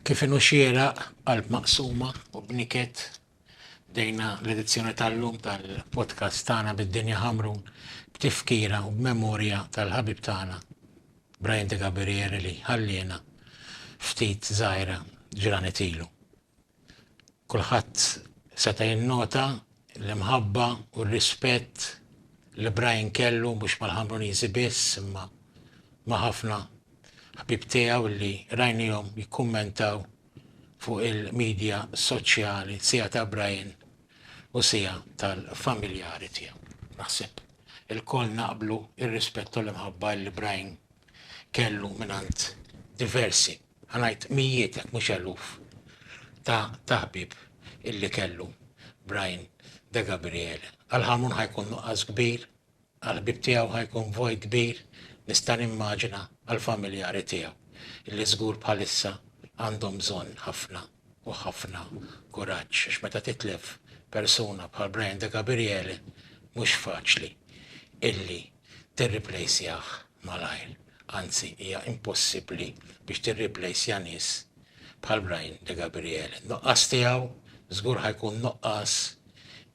Kif inhu xieraq, b'qalb maqsuma u b'niket, bdejna l-edizzjoni tal-lum tal-podcast tagħna bid-Dinja Ħamrun b'tifkira u b'memorja tal-ħabib tagħna Brian Degabriere li ħalliena ftit żgħira ġranet ilu. Kulħadd seta' jinnota l-imħabba u r-rispett li Brian kellu mhux mal-Ħamruniżi biss imma ma' ħafna ħbieb tiegħu li rajnihom jikkummentaw fuq il-midja soċjali siegħa ta' Brian u siegħa tal-familjari tiegħu. Naħseb ilkoll naqblu r-rispett u l-imħabba li Brian kellu mingħand diversi. Ħa ngħid mijiet jekk mhux eluf ta' ta' ħbieb illi kellu Brian De Gabriele. Għal Ħarmun ħa jkun nuqqas kbir, għall-ħbieb tiegħu ħa jkun vojt kbir, nista' nimmaġina għall-familjari tiegħu illi żgur bħalissa għandhom bżonn ħafna u ħafna kuraġġ għax meta titlef persuna bħal Brian De Gabriele mhux faċli illi tirriplejsjah malajr, anzi hija impossibbli biex tirriplejsja nies bħal Brian De Gabriele. N-nuqqas tiegħu żgur ħa jkun nuqqas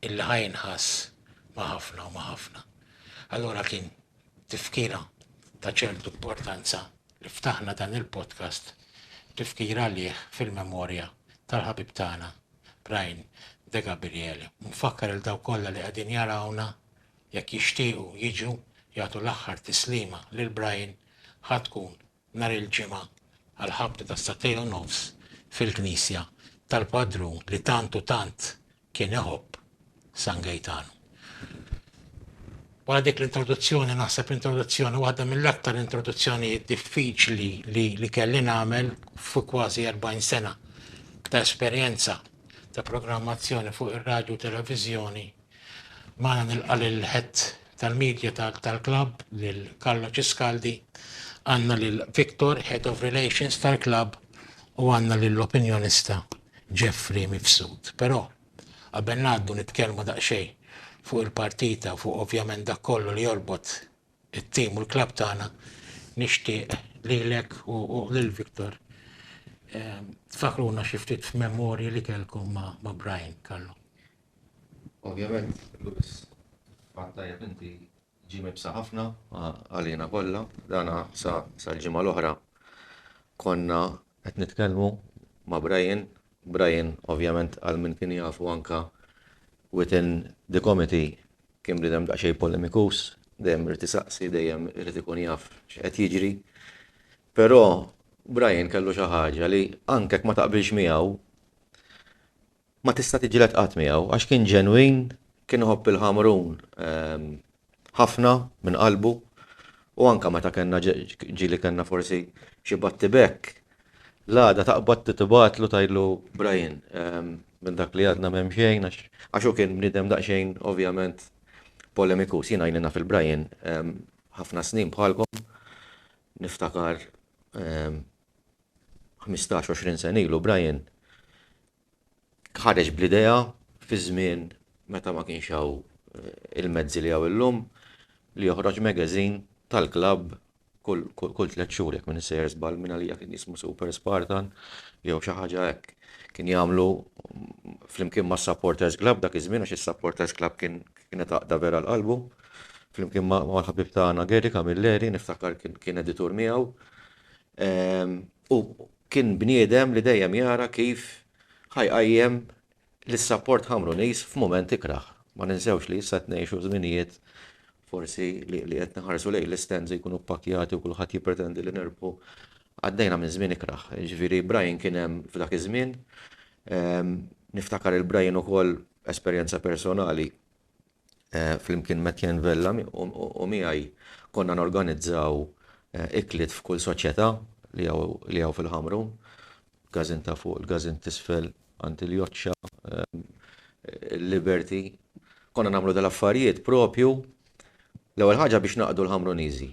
illi ħa jinħass ma' ħafna u ma' ħafna. Allura kien tifkira ta' ċertu importanza li ftaħna dan il-podcast b'tifkira għalih fil-memorja tal-ħabib tagħna Brian De Gabriele u nfakkar lil dawk kollha li qegħdin jarawna jekk jixtiequ jiġu jagħtu l-aħħar tislima lil Brian ħa tkun nhar il-Ġimgħa għall-ħabta ta' sagħtejn u nofs fil-knisja tal-Padrun li tant u tant kien iħobb, San Gejtanu. Wara dik l-introduzzjoni, naħseb introduzzjoni waħda mill-aktar introduzzjonijiet diffiċli li, li kelli nagħmel fuq kważi 40 sena ta' esperjenza ta' programmazzjoni fuq ir-radju u televiżjoni Magħna nilqa' lil Head tal-Media tal-Club, lil Carlo Ciscaldi, għandna lil Victor, Head of Relations tal-Club, u għandna lill-Opinjonista Jeffrey Mifsud. Però, qabel ngħaddu nitkellmu daqsxejn fuq il-partita u fuq ovvjament dak kollu li jorbot it-team u l-club tagħna, nixtieq lilek u lil Victor tfakkruna xi ftit f'memorji li kellkom ma' Brian, Carlo. Ovvjament, Louis, fatt tajjeb inti, ġie mibsa ħafna għalina kollha. Dan sal-ġimgħa l-oħra konna qed nitkellmu ma' Brian. Brian, ovvjament, għal min kien jafu anke within the committee kien bniedem daqsxejn polemikus, dejjem irid isaqsi, dejjem irid ikun jaf x'qed jiġri. Però Brian kellu xi ħaġa li anke jekk ma taqbilx miegħu, Ma tista' tiġġieled qatt miegħu għax kien ġenwin, kien iħobb il-Ħamrun ħafna minn qalbu u anke meta kellna ġieli kellna forsi xi battibekk, l-għada taqbad tibgħatlu tgħidlu Brian, minn dak li għadna m'hemm xejn għax għax hu kien bniedem daqsxejn ovvjament polemikus. Jiena ili naf il-Brian ħafna snin bħalkom niftakar Ħmistax, għoxrin sena ilu Brian ħareġ bl-idea fi żmien meta ma kienx hawn il-mezzi li hawn illum li joħroġ magazine tal-klabb kull tliet xhur jekk minn issejjer żball minn għalija kien jismu Super Spartan jew xi ħaġa hekk. Kien jagħmlu flimkien mas-Supporters Club dak iż-żmien għax is-Supporters Club kien kienet għaqda vera l-qalbu. Flimkien mal-ħabib tagħna Gary Camilleri niftakar kien editur miegħu. u kien bniedem li dejjem jara kif ħa jqajjem lis-sapport Ħamrunis f'mument ikrah. Ma ninsewx li issa qed ngħixu żminijiet forsi li qed naħarsu lejn l-istands jkunu ppakkjati u kulħadd jippretendi li nerbħu. Għaddejna minn żmien ikrah. Jiġifieri Brian kien hemm f'dak iż-żmien. Niftakar il-Brian ukoll esperjenza personali Flimkien m'Etienne Vella u miegħi konna norganizzaw ikliet f'kull soċjetà li hawn fil-Ħamru, Każin ta' Fuq, il-Każin t'Isfel, għand il-Joċċa, il-Liberty. Konna nagħmlu dal-affarijiet proprju l-ewwel ħaġa biex naqdu l-Ħamruniżi.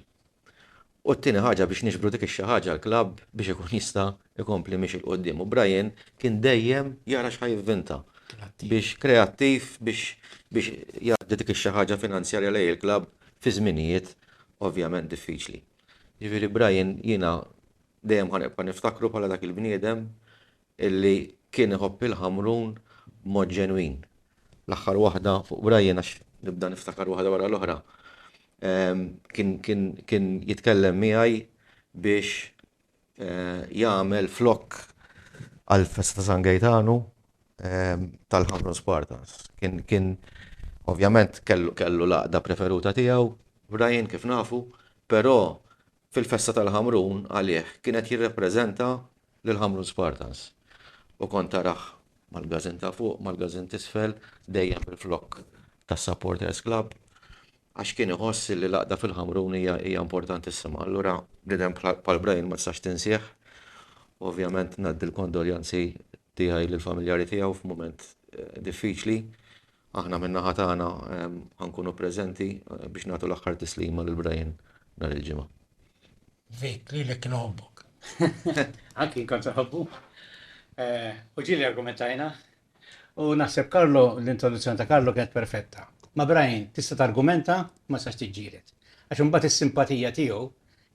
U t-tieni ħaġa biex niġbru dik ix-xi ħaġa għall-klabb biex ikun jista' jkompli miexi 'l quddiem. U Brian kien dejjem jara x'ħa jivvinta biex kreattiv biex biex jgħaddi dik ix-xi ħaġa finanzjarja lejn il-klabb fi żminijiet ovvjament diffiċli. Jiġifieri Brian jiena dejjem ħa nibqa' niftakru bħala dak il-bniedem illi kien iħobb il-Ħamrun b'mod ġenwin. L-aħħar waħda fuq Brian għax nibda niftakar waħda wara l-oħra. Kien jitkellem miegħi biex jagħmel flokk għall-festa ta' San Gejtanu tal-Ħamrun Spartans. Kien ovvjament kellu l-għaqda preferuta tiegħu Brian kif nafu, però Fil-festa tal-Ħamrun għalih kien qed jirrappreżenta lill-Ħamrun Spartans u kont tarah mal-gażin ta' fuq, mal-gażin t'isfel, dejjem bil-flokk tas-Supporters Club għax kien iħoss li l-għaqda fil-Ħamrun hija hija importantissima. Allura bniedem bħal Brian ma tistax tinsih u ovvjament ngħaddi l-kondoljanzi tiegħi lill-familjari tiegħu f'mument diffiċli. Aħna min-naħa tagħna ħa nkunu preżenti biex nagħtu l-aħħar tislima lil Brian nhar il-Ġimgħa. Vic, lilek kien iħobbok. Anki jien kont inħobbu. U ġieli argumentajna. U naħseb Carlo, l-introduzzjoni ta' Carlo kienet perfetta. Ma' Brian tista' targumenta, ma tistax tiġġieled. Għax imbagħad is-simpatija tiegħu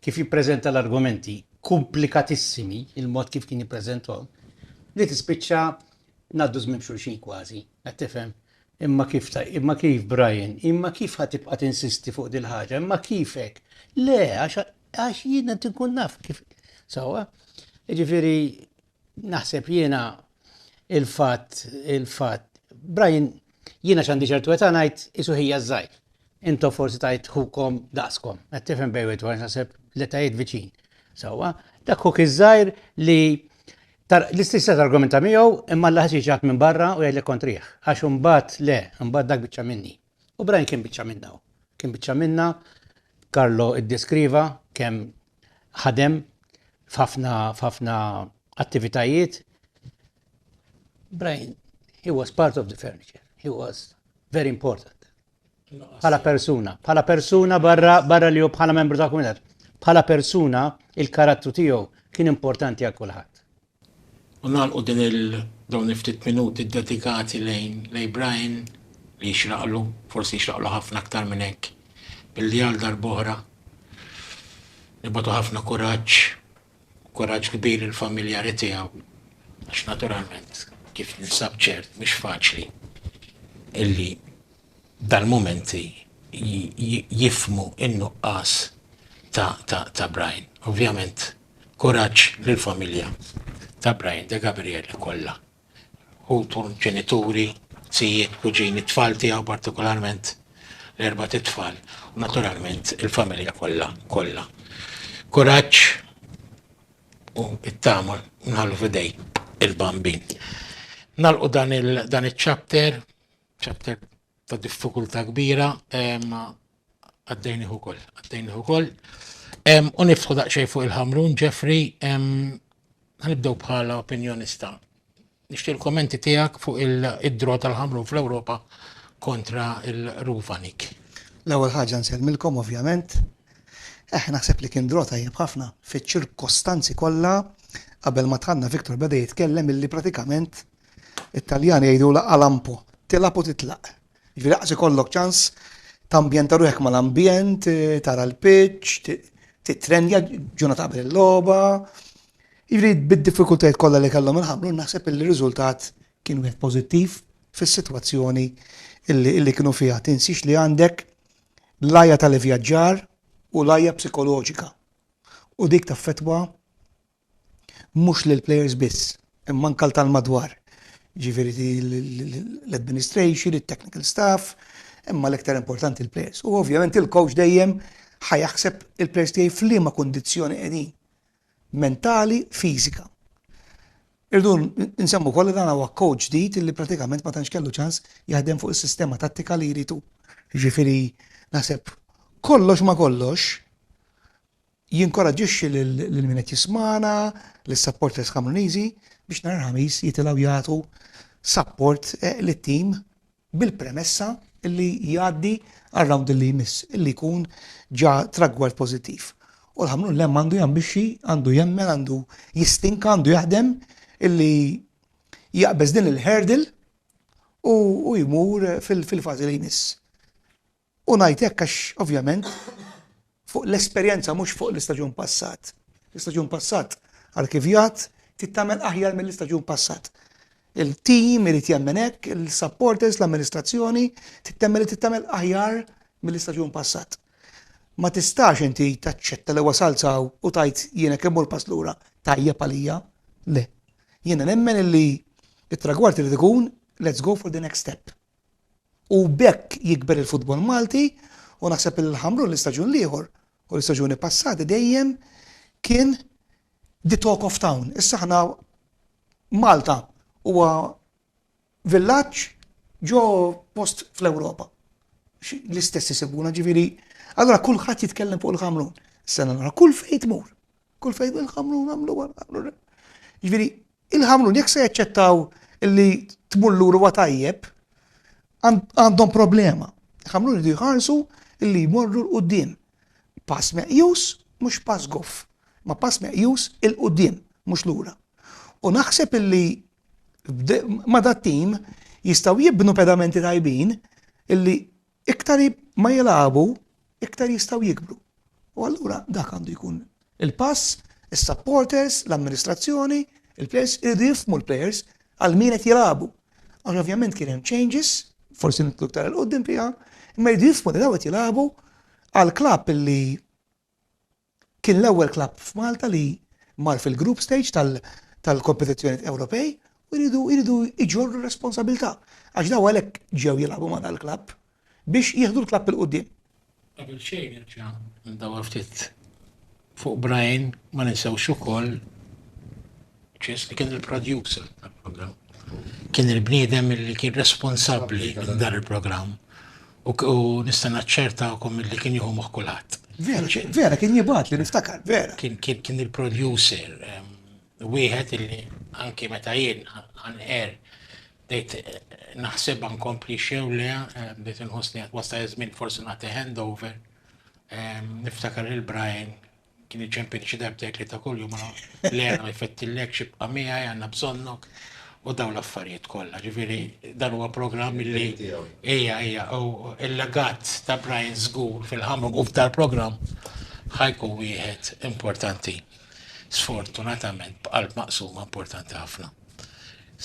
kif jippreżenta l-argumenti kumplikatissimi, il-mod kif kien jippreżenthom, li tispiċċa ngħaddu żmien b'xulxin kważi, qed tifhem? Imma kif ta, imma kif Brian, imma kif ħa tibqa' tinsisti fuq dil-ħaġa, imma kif hekk? Le, għax jiena tinkun naf kif. Sawa? Jiġifieri Naħseb jiena il-fatt, il-fatt, Brian, jiena x'għandi ċertu età ngħid isu ħija żgħir. Intom forsi tajt ħukom daqskom, qed tifhem bejn wieħed ieħor naħseb l-etajiet viċin. Sewwa, dak ħuk iż-żgħir li l-istess qed argumenta miegħu imma l ħaġa ġat minn barra u jgħidlek kontrih. Għax imbagħad le, imbagħad dak biċċa minni. U Brian kien biċċa minna. Kien biċċa minna, Karlo iddeskriva kemm ħadem f'ħafna attivitajiet. Brian, he was part of the furniture, he was very important. Bħala persuna, bħala persuna barra barra li hu bħala membru ta' komunitat, bħala persuna il-karattru tiegħu kien importanti għal kulħadd. U nagħlqu din il dawn il-ftit minuti ddedikati lejn lejn Brian li jixraqlu, forsi jixraqlu ħafna aktar minn hekk, billi għal darb'oħra nibgħatu ħafna kuraġġ, kuraġġ kbir lill-familjari tiegħu għax naturalment kif ninsab ċert mhux faċli illi dal-mumenti jifhmu n-nuqqas ta' Brian. Ovvjament kuraġġ lill-familja ta' Brian De Gabriele kollha. Ħutu, ġenituri, zijiet, kuġini, t-tfal tiegħu partikolarment l-erbat itfal u naturalment il-familja kollha kollha. Kuraġġ u t-tama nħallu f'idejk il-bambin. Nagħlqu dan iċ-chapter Chapter ta' diffikultà kbira għaddejnih ukoll, għaddejnih ukoll. U niftħu daqsxejn fuq il-ħamrun, Jeffrey, ħanibdew bħala opinjonista. Nixtieq il-kommenti tiegħek fuq id-draw tal-ħamrun fl-Ewropa kontra l-Ruvanik. L-ewwel ħaġa nsellmilkom ovvjament. Eħ, naħseb li kien draw tajjeb ħafna fiċ-ċirkostanzi kollha. Qabel ma dħalna Victor beda jitkellem illi pratikament It-Taljani jgħidulha calampo, tilgħab u titlaq. Jiġifieri daqs ikollok ċans tambjenta ruħek mal-ambjent, tara l-pitch, titrenja ġurnata qabel il-logħba. Jiġifieri bid-diffikultajiet kollha li kellhom il-ħamru naħseb li r-riżultat kien wieħed pożittiv fis-sitwazzjoni illi kienu fiha. Tinsiex li għandek l-għajja tal-ivvjaġġar u l-għajja psikoloġika u dik taffettwa mhux lill-plejers biss, imma anke għal tal-madwar, jiġifieri l-administration, it-technical staff, imma l-iktar importanti l-plejers. U ovvjament il-coach dejjem ħa jaħseb il-plejers tiegħi f'liema kundizzjoni qegħdin, mentali, fiżika. Irdu nsemmu wkoll li dan huwa coach ġdid li pratikament ma tantx kellu ċans jaħdem fuq is-sistema tattika li jrid hu. Jiġifieri naħseb kollox ma kollox Jinkoraġġixxi lil min qed jismagħna, lis-supporters Kamruniżi, biex nhar il-Ħamis jitilgħu jagħtu sapport lit-tim bil-premessa li jgħaddi għar-round li jmiss li jkun ġa tragward pożittiv. U l-Ħamrun Lemm għandu jambixxi, għandu jemmen, għandu jistinka, għandu jaħdem li jaqbeż din il-hurdle u jmur fil-fażi li jmiss. U ngħid hekk għax ovvjament fuq l-esperjenza mhux fuq l-istaġun passat. L-istaġun passat għall-kivjat trid tagħmel aħjar mill-istaġun passat. Il-team irid jemmen hekk, il-supporters, l-amministrazzjoni trid temmel li trid tagħmel aħjar mill-istaġun passat. Ma tistax inti taċċetta li wasalt saw u tajt jiena kemm l pass lura tajjeb għalija. Le. Jiena nemmen li it-tragward irid ikun let's go for the next step. U b'hekk jikber il-futbol Malti u naħseb li l-Ħamrun l-istaġun l-ieħor u l-istaġuni passati dejjem kien the talk of town. Issa aħna Malta huwa villaġġ ġo post fl-Ewropa. L-istess isibuna ġifieri allura kulħadd jitkellem fuq il-Ħamrun. Sena l-oħra kull fejn tmur. Kull fejn il-Ħamrun għamlu għal Ġifieri, il-Ħamrun jekk se jaċċettaw li tmur lura huwa tajjeb, għandhom problema. Il-Ħamrun jridu jħarsu li jmorru l-qudiem. Pass meqjus, mhux pass goff, ma pass meqjus il-qudiem, mhux lura. U naħseb illi ma dat tim jistaw jibnu pedamenti tajbin illi Iktar ma jilagħbu, iktar jistgħu jikbru. U allura dak għandu jkun il-pass, is-supporters, l-amministrazzjoni, il-players iridu jifhmu l-players għal min qed jilagħbu. Għax ovvjament kien hemm changes, forsi nitlu iktar il-qudiem fiha, imma jridu jifhmu li daw qed jilagħbu għal klabb li Kien l-ewwel klabb f'Malta li mar fil-group stage tal-kompetizzjonijiet Ewropej u jridu jġorru r-responsabilità għax dawn għalhekk ġew jilagħbu ma' dal-klabb biex jieħdu l-klabb 'il quddiem. Qabel xejn nerġa' ndawwar ftit fuq Brian, ma ninsewx ukoll Chase, li kien il-producer tal-programm, kien il-bniedem li kien responsabbli minn dan il-programm u nista' naċċertakom li kien jieħu moħħ kulħadd. Vera, kien jibgħat li niftakar, vera. Kien il-producer wieħed illi anki meta jien għan er bdejt naħseb għan kompli xew le bdejt nħossni għat wasta jazmin forsi nagħti handover niftakar il-Brian Kien iċempini xi darbtejn tlieta kuljum ara Lena ma jfettillekx ibqa' miegħi għandna bżonnok u dawn l-affarijiet kollha. Ġifieri dan huwa programm li hija hija u l-legat ta' Brian żgur fil-ħamru u f'dal-programm ħajkun wieħed importanti. Sfortunatament b'qalb maqsuma importanti ħafna.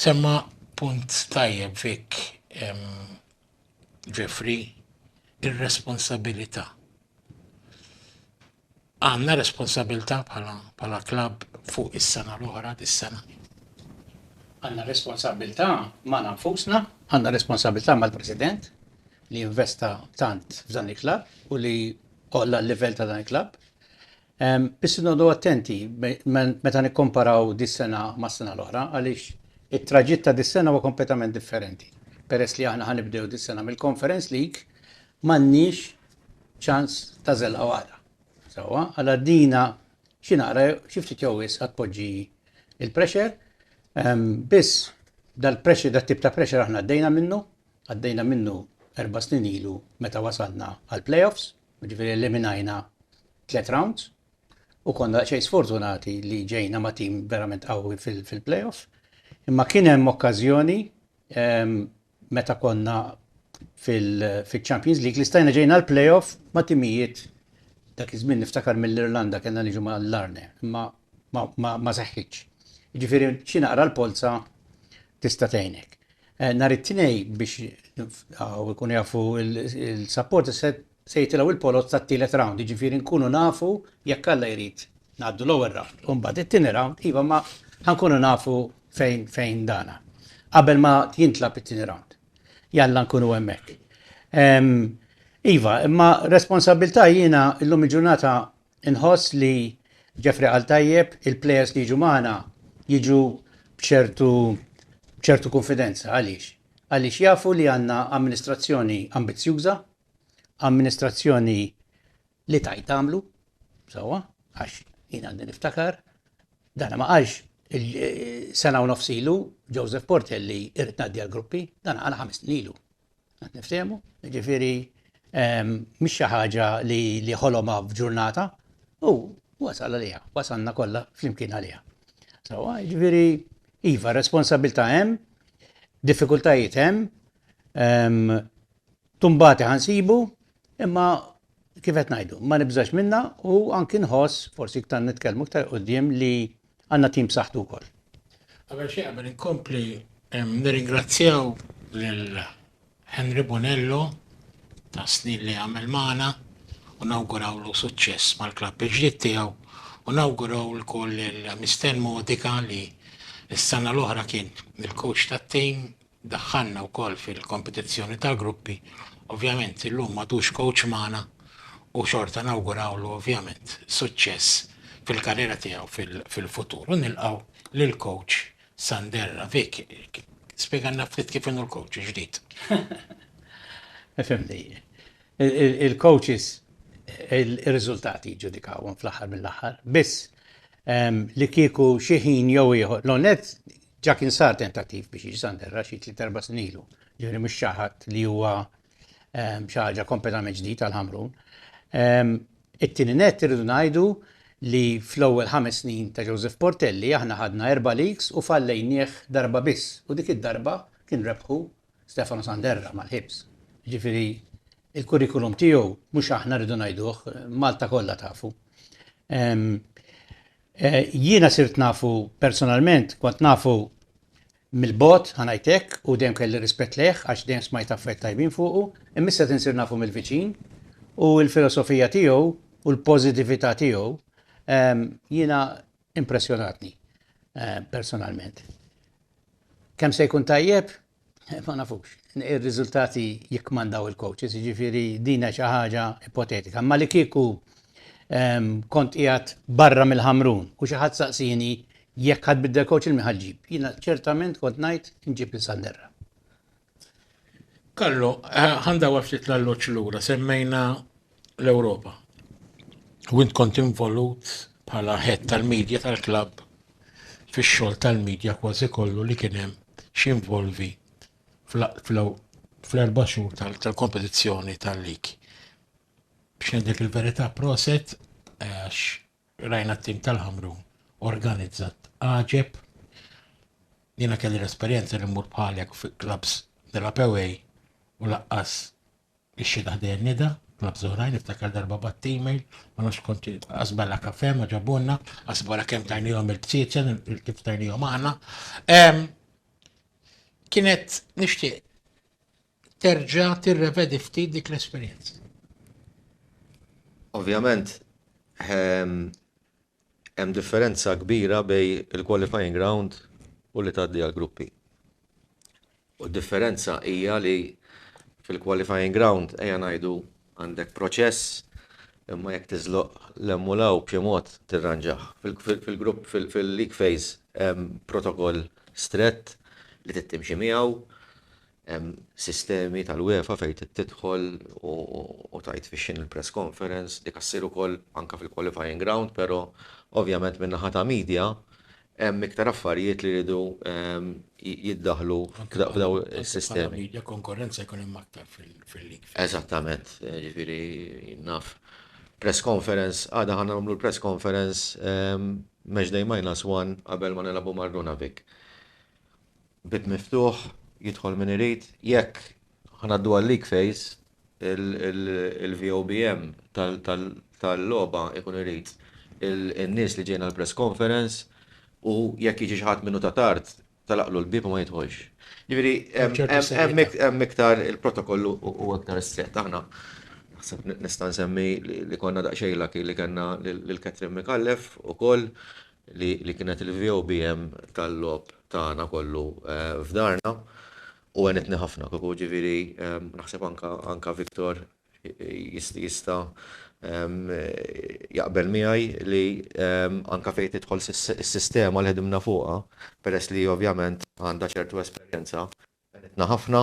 Semma punt tajjeb Vic Jeffrey, ir-responsabilità. Għandna responsabilità bħala bħala klabb fuq is-sena l-oħra dis-sena. Għandna responsabilità ma' nafusna, għandna responsabilità mal-President li investa tant f'dan il-klabb u li qolla l-livell ta' dan il-klabb. Biss noqogħdu attenti meta nikkomparaw dis-sena mas-sena l-oħra għaliex it-traġitt ta' dis-sena huwa kompletament differenti peress li aħna ħa nibdew dis-sena mill-Conference League m'għandniex ċans ta' żellqa waħda. Sewwa, għal għaddina xi naqra xi ftit jew wisq għad tpoġġi l-pressure. Biss dal-pressure dat-tip ta' pressure aħna għaddejna minnu, għaddejna minnu erba' snin ilu meta wasalna għall-playoffs. Jiġifieri eliminajna tliet rounds u konna daqsxejn sfortunati li ġejna ma' tim verament qawwi fil-playoff. Imma kien hemm okkażjoni meta konna fil-Champions League li stajna ġejna l-playoff ma' timijiet dak iż-żmien niftakar mill-Irlanda kellna niġu ma' Larne, imma ma seħħitx. Jiġifieri xi naqra l-polza tista' tgħinek. Nhar it-Tnejn biex nibqgħu jkunu jafu l-supporters se jitilgħu il-poloz tat-tielet round, jiġifieri nkunu nafu jekk Alla jrid ngħaddu l-ewwel round u mbagħad it-tieni round, iva ma ħa nkunu nafu fejn fejn dana. Qabel ma jintlagħab it-tieni round. Jalla nkunu hemmhekk. Iva, imma responsabbiltà jiena llum il-ġurnata Inħoss li Jeffrey qal tajjeb, il-plejers li jiġu magħna jiġu b'ċertu b'ċertu kunfidenza. Għaliex? Għaliex jafu li għandna amministrazzjoni ambizzjuża, amministrazzjoni li tgħid tagħmlu, sewwa, għax jien għandi niftakar, dan ma qalx sena u nofs ilu Joseph Portelli irrid ngħaddi għall-gruppi, dan qal ħames snin ilu. Qed niftehmu, jiġifieri mhix xi ħaġa li ħolomha f'ġurnata u wasal għaliha, wasalna kollha flimkien għaliha. Sawa, jiġifieri iva, responsabilità hemm, diffikultajiet hemm, tumbati ħansibu, Imma, kif qed ngħidu, ma nibżax minnha u anki nħoss, forsi iktar nitkellmu iktar 'il quddiem, li għandna tim b'saħħtu wkoll. Qabel xejn, qabel inkompli, nirringrazzjaw lil Henry Bonello tas-snin li għamel magħna u nawgurawlu suċċess mal-klabb il-ġdid tiegħu u nawguraw ukoll lil Mister Modica li s-sena l-oħra kien il-coach tat-tim, Daħħalna wkoll fil-kompetizzjoni tal-gruppi. Ovvjament illum m'għadux kowċ magħna u xorta nawgurawlu ovvjament suċċess fil-karriera tiegħu fil-futur u nilqgħu lill-kowċ Sander Ravik. Spjegalna ftit kif inhu l-kowċ il-ġdid. Fimni. Il-kowċis ir-riżultati jiġġudikawhom fl-aħħar mill-aħħar. Biss li kieku xi ħin jew ieħor, l-ewwel nett Ġa kien sar tentattiv biex jiġi Sander Rashid tliet erba' snin ilu, ġifieri mhux xi ħadd li huwa xi ħaġa kompletament ġdid għal Ħamrun. It-tieni nett irridu ngħidu li fl-ewwel ħames snin ta' Joseph Portelli aħna ħadna erba' leagues u fallejnieh darba biss u dik id-darba kien rebħu Stefano Sanderra mal-Hibs. Ġifieri il-kurrikulum tiegħu mhux aħna rridu ngħiduh, Malta kollha tafu. Jiena sirt nafu personalment, kont nafu mill-bogħod, ħa ngħid hekk, u dejjem kelli rispett lejh għax dejjem smajt affarijiet tajbin fuqu, imma issa qed insir nafu mill-viċin u l-filosofija tiegħu u l-pożitività tiegħu jiena impressjonatni personalment. Kemm se jkun tajjeb? Ma nafux. Ir-riżultati jikkmandaw il-coaches, jiġifieri din hija xi ħaġa ipotetika. Imma li kieku ehm, kont qiegħed barra mill-ħamrun u xi ħadd saqsini jekk ħad biddel coach il miħal ġib. Jina ċertament kont najt nġib il sanderra Kallo, eh, għanda għaftit l-alloċ l-ura, semmejna l-Ewropa. U int kont involut bħala head tal-media tal-klabb fix-xogħol tal-media kważi kollu li kien hemm x'involvi fl-erba' xhur tal-kompetizzjoni tal-lig. Biex ngħidlek il-verità proset għax rajna t-tim tal-Ħamrun organizzat għaġeb. Jiena kelli l-esperjenza li mmur bħalek fi klabbs nilgħab u laqqas Ix-xhieda ħdejja neda, clubs oħrajn, niftakar darba bgħatt email, ma nafx kont asballa kafè ma ġabulna, aħsbu wara kemm tajnihom il-bsieċen, kif tajnihom aħna. Kienet nixtieq terġa' tirrevedi ftit dik l-esperjenza. Ovvjament, Hemm differenza kbira bejn il-qualifying round u li tgħaddi għall-gruppi. U d-differenza hija li fil-qualifying round ejja ngħidu għandek proċess imma jekk tiżloq l-hemm u l-hawn b'xi mod tirranġah. Fil-grupp fil-league phase hemm protokoll strett li trid timxi miegħu, Hemm sistemi tal-UEFA fejn tidħol u tgħid fix-xien il-press conference, dik ssir ukoll anke fil-qualifying round, però ovvjament min-naħa ta' media hemm iktar affarijiet li jridu jiddaħħlu f'dawn is-sistemi. Anke fil-media konkurrenza jkun hemm aktar fil-lig. Eżattament, jiġifieri jien naf. Press conference, għada ħa nagħmlu l-press conference matchday minus one qabel ma nilagħbu mar-Runavic. Bib miftuħ, jidħol min irid. Jekk ngħaddu għal-leak phase, il-VOBM tal-logħba jkun irid in-nies li ġejjin għall-press conference u jekk jiġi xi ħadd minnu ta' tard, tagħlaqlu l-bieb u ma jidħolx. Jiġifieri hemm iktar il-protokoll hu iktar strett. Aħna, naħseb nista' nsemmi li konna daqsxejn lucky li kellna lil Catherine Micallef ukoll li kienet il-VOBM tal-logħob tagħna kollu f'darna u għenitni ħafna kieku ġifieri naħseb anke Victor jista' jaqbel miegħi li anke fejn tidħol is-sistema li ħdimna fuqha peress li ovvjament għandha ċertu esperjenza Għenitna ħafna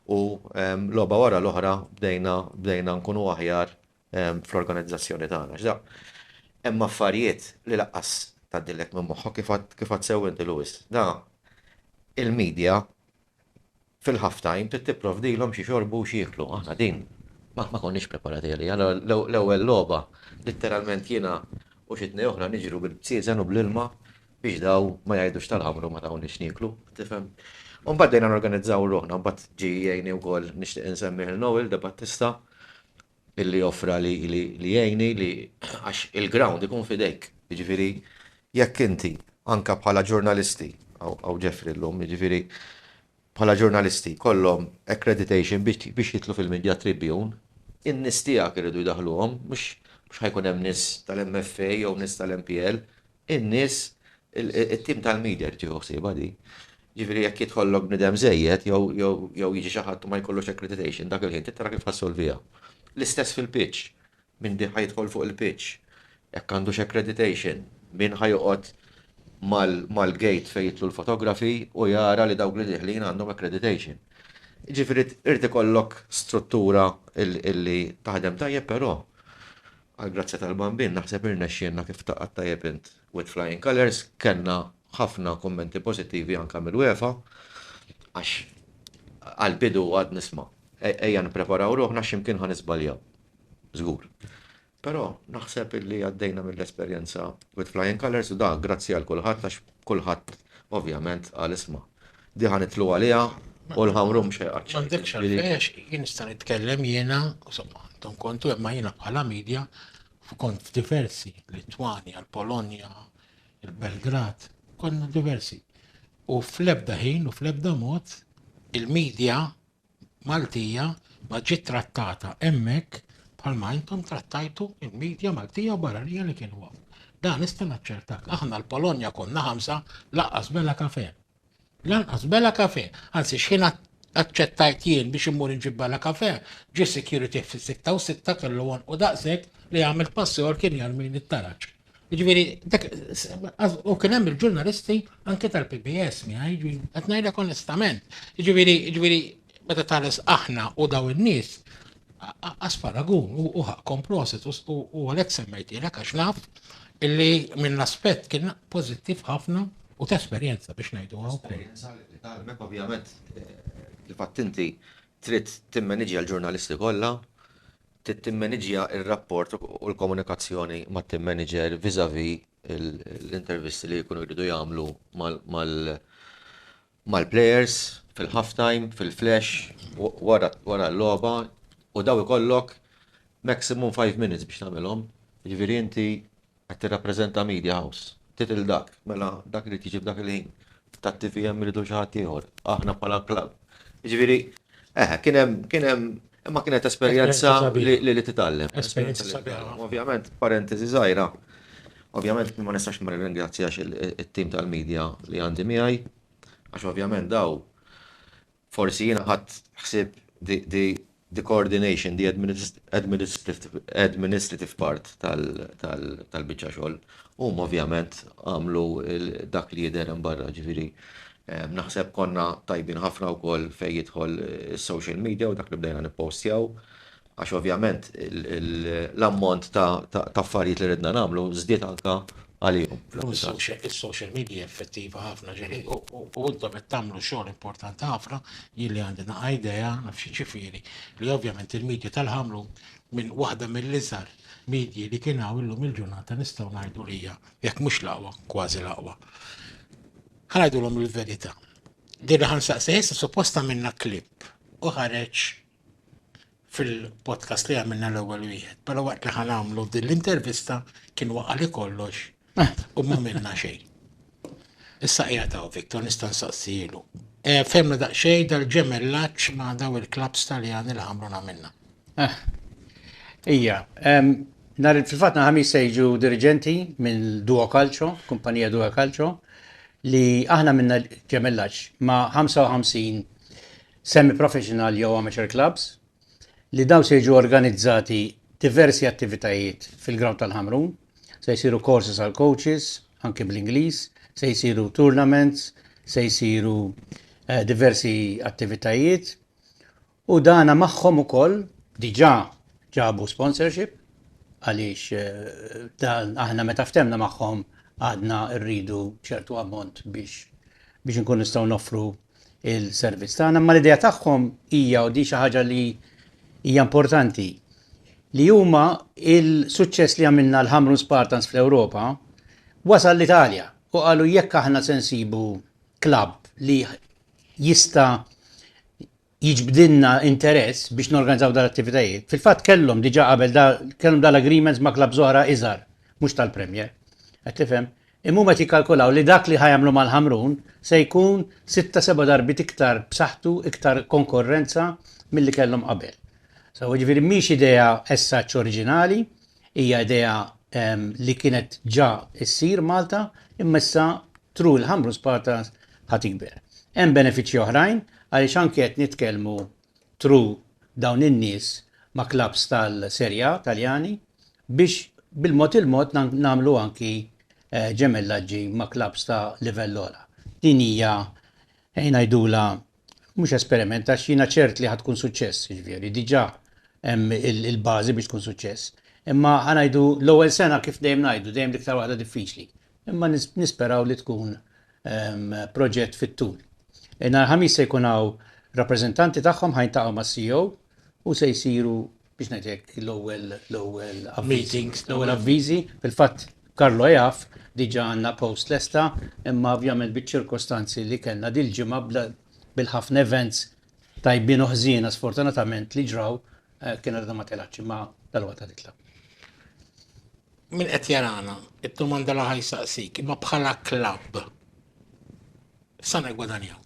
u logħba wara l-oħra bdejna bdejna nkunu aħjar fl-organizzazzjoni tagħna. Għax da hemm affarijiet li laqqas tgħaddilek minn moħħok kif għad kif għad sew inti Louis. Da il-media fil-half time trid tipprovdilhom xi jxorbu u xi jieklu. Aħna din ma ma konniex preparati għaliha. L-ewwel logħba litteralment jiena u xi tnej oħra niġru bil-bsieżen u bl-ilma. biex daw ma jgħidux tal-ħamru ma tawni x'nieklu, tifhem. U mbagħad bdejna norganizzaw ruħna, mbagħad ġie jgħinni wkoll nixtieq insemmih lil Noel De Battista illi offra li jgħinni li għax il-ground ikun f'idejk. Jiġifieri jekk inti anke bħala ġurnalisti, hawn Jeffrey llum, jiġifieri bħala ġurnalisti jkollhom accreditation biex jidħlu fil-Media Tribune, in-nies tiegħek iridu jdaħħluhom, mhux ħa jkun hemm nies tal-MFA jew nies tal-MPL, in-nies, it-tim tal-media jrid jieħu ħsiebha din. Jiġifieri jekk jidħollok bniedem żejjed jew jiġi xi ħadd u ma jkollux accreditation, dak il-ħin trid tara kif ħassolviha. L-istess fil-pitch, min ħa jidħol fuq il-pitch, jekk għandux accreditation, min ħa joqgħod mal-gate fejn jidħlu l-fotografi u jara li dawk li dieħlin għandhom accreditation. Jiġifieri irid ikollok struttura li taħdem tajjeb però Għall-grazzja tal-Bambin naħseb irnexxielna kif taqgħad tajjeb int with flying colours, kellna ħafna kummenti pożittivi anke mill-UEFA għax għall-bidu għadt nisma' ejja nippreparaw ruħna għax xi mkien ħa niżbaljaw żgur. Però naħseb illi għaddejna mill-esperjenza with flying colours u dak grazzi għal kulħadd għax kulħadd ovvjament qal isma'. Di ħa nidħlu għaliha u l-ħamru mhux ħejqat xejn. M'għandekx jiġifieri- għalfejn għax jien nista' nitkellem jiena, insomma, intom kontu imma jiena bħala media kont f'diversi, Litwanja, l-Polonja, il-Belgrad, konna diversi. U fl-ebda ħin u fl-ebda mod il-media Maltija ma ġiet trattata hemmhekk bħalma intom trattajtu l-media Maltija u barranija li kienu hawn. Dan nista' naċċertak. Aħna l-Polonja konna ħamsa laqqas bela kafe. Lanqas bela kafe. Anzi x'ħin aċċettajt jien biex immur inġib bela kafe, ġie security fis-sitta u sitta kellu u daqshekk li għamilt passjor kien jarmini t-taraġ. Ġviri, u kien hemm il-ġurnalisti anke tal-PBS miħaj, qed ngħidlek onestament. Ġviri, ġviri, meta tħares aħna u daw in-nies, asparagun u ħakkom proset u għalhekk semmejtilek għax naf illi minn aspett kien pożittiv ħafna u ta' esperjenza biex ngħidu għaw. Esperjenza li tgħalmek ovvjament eh, kif għattinti trid timmaniġja l-ġurnalisti kollha, trid timmaniġja r-rapport u l-komunikazzjoni mat-tim manager vis-à-vis l-intervisti li jkunu jridu jagħmlu mal-players fil-half time, fil-flash, wara l-logħba u dawn ikollok maximum five minutes biex tagħmilhom. Jiġifieri inti Qed tirrappreżenta media house. Tittle dak. Mela dak irid jiġi f'dak il-ħin. Tat-TVM iridu xi ħadd ieħor. Aħna bħala club. Jiġifieri, eħe, kien hemm, kien hemm, imma kienet esperjenza li titgħallem. Esperjenza sabiħa ħafna. Ovvjament, parentesi żgħira, ovvjament ma nistax ma nirringrazzjax it-tim tal-media li għandi miegħi, għax ovvjament dawn Forsi jiena ħadt ħsieb the coordination, the administrative part tal-biċċa xogħol. Huma ovvjament għamlu dak li jidher hemm barra, ġifieri naħseb konna tajbin ħafna wkoll fejn jidħol is-social media u dak li bdejna nippostjaw. għax ovvjament l-ammont ta' affarijiet li ridna nagħmlu żdied anke għalihom. Is-social media effettiva ħafna ġieli u intom qed tagħmlu xogħol importanti ħafna, jien li għandi naqa' idea naf xi ġifieri li ovvjament il-media tal-ħamrun minn waħda mill-iżgħar medji li kien hawn illum il-ġurnata nistgħu ngħidu li hija jekk mhux l-aqwa, kważi l-aqwa. Ħa ngħidulhom il-verità. Din li ħansaqsi issa supposta minna klip u ħareġ fil-podcast li għamilna l-ewwel wieħed, però waqt li ħan għamlu din l-intervista kien waqa' li kollox eh. u ma minna xejn. Issa qiegħed hawn Viktor nista' nsaqsilu. Eh, Femna daqsxejn dal-ġemellaġġ ma' daw il-klabs Taljani li għamlu għamilna. Eh. Ija, nar fil-fatt naħami sejġu dirigenti minn Duo Calcio, kumpanija Duo Calcio, li aħna minna ġemellaġġ ma' 55 semi-professional jew amateur clubs, li dawn se jiġu organizzati diversi attivitajiet fil-ground tal-Ħamrun, se jsiru courses għal coaches, anki bl-Ingliż, se jsiru tournaments, se jsiru diversi attivitajiet u dana magħhom ukoll diġà ġabu sponsorship għaliex dan aħna meta ftemna magħhom għadna rridu ċertu ammont biex biex inkunu nistgħu noffru il-servizz tagħna, imma l-idea tagħhom hija u di xi ħaġa li hija importanti li huma il-suċċess li għamilna l-Hamrun Spartans fl-Ewropa wasal l-Italja u qalu jekk aħna se nsibu klabb li jista jiġbdinna interess biex norganizzaw dal attivitajiet Fil-fatt kellhom diġa qabel kellhom dal-agreements ma' klabb zoħra iżar, mhux tal-Premier. Qed tifhem? Imma huma qed jikkalkulaw li dak li ħa jagħmlu mal-Ħamrun se jkun sitta seba' darbiet iktar b'saħħtu, iktar konkorrenza milli kellhom qabel. So, jiġifieri mhix idea as such oriġinali, hija idea li kienet ġa ssir Malta, imma issa through il-Ħamrun Spartans ħa tikber. Hemm benefiċċji oħrajn għaliex anke qed nitkellmu tru dawn in-nies ma' klabbs tal-Serie A Taljani biex bil-mod il-mod nagħmlu anki ġemellaġġi ma' klabbs ta' livell ogħla. Din hija ejn ngħidulha mhux esperiment għax jiena ċert li ħa tkun suċċess, jiġifieri diġà hemm il-bażi biex tkun suċċess. Imma ħa ngħidu l-ewwel sena kif dejjem ngħidu dejjem l-iktar waħda diffiċli Imma nisperaw li tkun proġett fit-tul. Nhar il-Ħamis se jkun hawn rappreżentanti tagħhom ħa jiltaqgħu mas-CEO u se jsiru biex ngħid hekk l-ewwel l-ewwel meetings, l-ewwel avviżi. Fil-fatt Carlo jaf diġà għandna post lesta imma ovvjament biċ-ċirkostanzi li kellna dil-ġimgħa bla bil-ħafna events tajbin u ħżiena sfortunatament li ġraw kienet għadha ma telgħetx imma dalwaqt qed titlgħa. Min qed jarana, id-domanda li ħa jsaqsik, imma bħala klabb, sa negwadanjaw?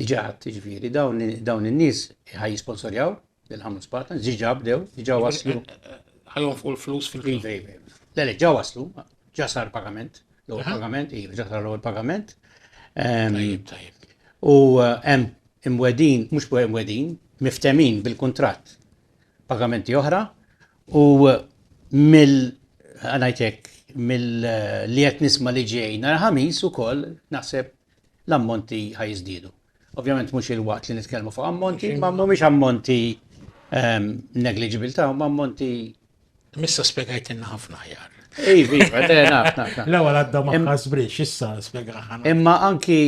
Diġà għadt jiġifieri dawn in-nies ħa jisponsorjaw lil Hamlet Spartans, diġà bdew, diġà waslu. Ħajhom fuq il-flus fil-klabb. Iva, iva, iva. Le, le, ġa waslu, ġa sar pagament, l-ewwel pagament, iva, ġa sar l-ewwel pagament. Tajjeb, tajjeb. U eh, hemm imwedin, mhux imwedin, miftemin bil-kuntratt pagamenti oħra U mill għanajtek mill li qed nisma' li ġej nhar ħamis ukoll naħseb l-ammonti ħajżdiedu. Ovvjament mhux il-waqt li nitkellmu fuq ammonti, ma mhumiex ammonti ehm, negliġibil ta' ma ammonti. Missa spiegajt inna ħafna ħjar. Ej, viva, le, naf, naf. L-ewwel għadda ma ħasbrix, issa spjegaħna. Imma anki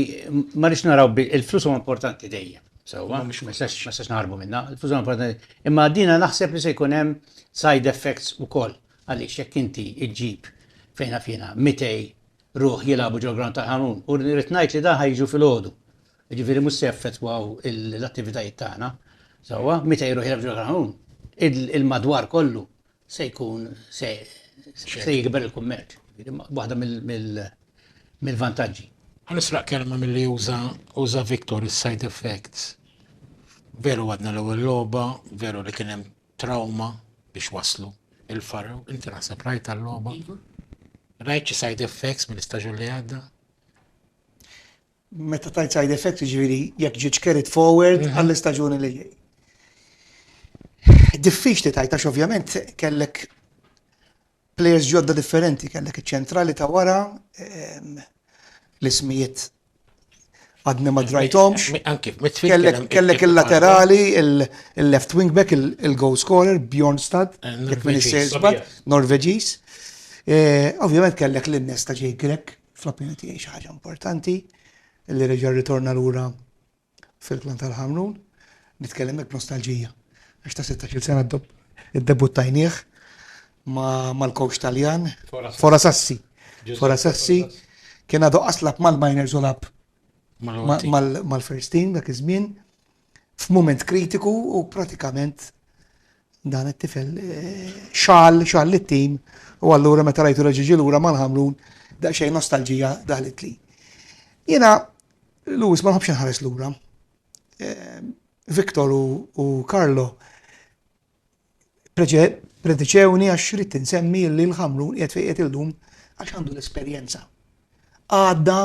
ma rix naraw il-flus huwa importanti dejjem. Sewwa, ma sax naħarbu minna, il-flus huwa importanti. Imma dina naħseb li se jkun hemm side effects ukoll għaliex jekk inti ġġib fejn naf jiena 200 ruħ jilagħbu ġol-ground tal-Ħanun u rrid ngħid li dan ħa jiġu filgħodu. Jiġifieri mhux se jaffettwaw l-attivitajiet tagħna. Sewwa, 200 ruħ jilagħbu ġol-Ħanun, il-madwar kollu se jkun se jikber il-kummerċ. Waħda mill-vantaġġi. Ħa nisraq kelma milli uża Victor is-side effects. Veru għadna l-ewwel logħba, veru li kien hemm trawma biex waslu il-Faro. Inti naħseb rajt għal-logħba? Rajt xi side effects mill-istaġun li għadda? Meta tajt side effect, ġviri, jekk ġiġ carried forward mhm. għall-istaġuni li ġej. Diffiċ li tajt, għax ovvjament kellek players ġodda differenti, kellek iċ-ċentrali ta' wara, ehm, l-ismijiet għadni ma drajtomx. Kellek il-laterali, il-left wing back, il-goal scorer, Bjorn Stad, eh, Norveġis. Eh, ovvjament kellek l-innes ta' ġej Grek, fl-opinjoni tiegħi xi ħaġa importanti li reġa' rritorna lura fil-Klan tal-Ħamrun, nitkellem hekk nostalġija. Għax ta' 16 sena ddebuttajnieh mal-coach Taljan, Fora Sassi. Fora Sassi kien għadu aslab mal-miners u lab mal-first team dak iż-żmien. f'mument kritiku u pratikament dan it-tifel eh, xal, xal l-tim u allura meta rajtu reġiġi lura ma nħamrun daqsxejn nostalġija daħlet li. Jena, Lewis ma nħobx nħares lura. Eh, Victor u Carlo Prediċewni għax rrid insemmi li l-Ħamrun qiegħed fejn qiegħed illum għax għandu l-esperjenza. Għadda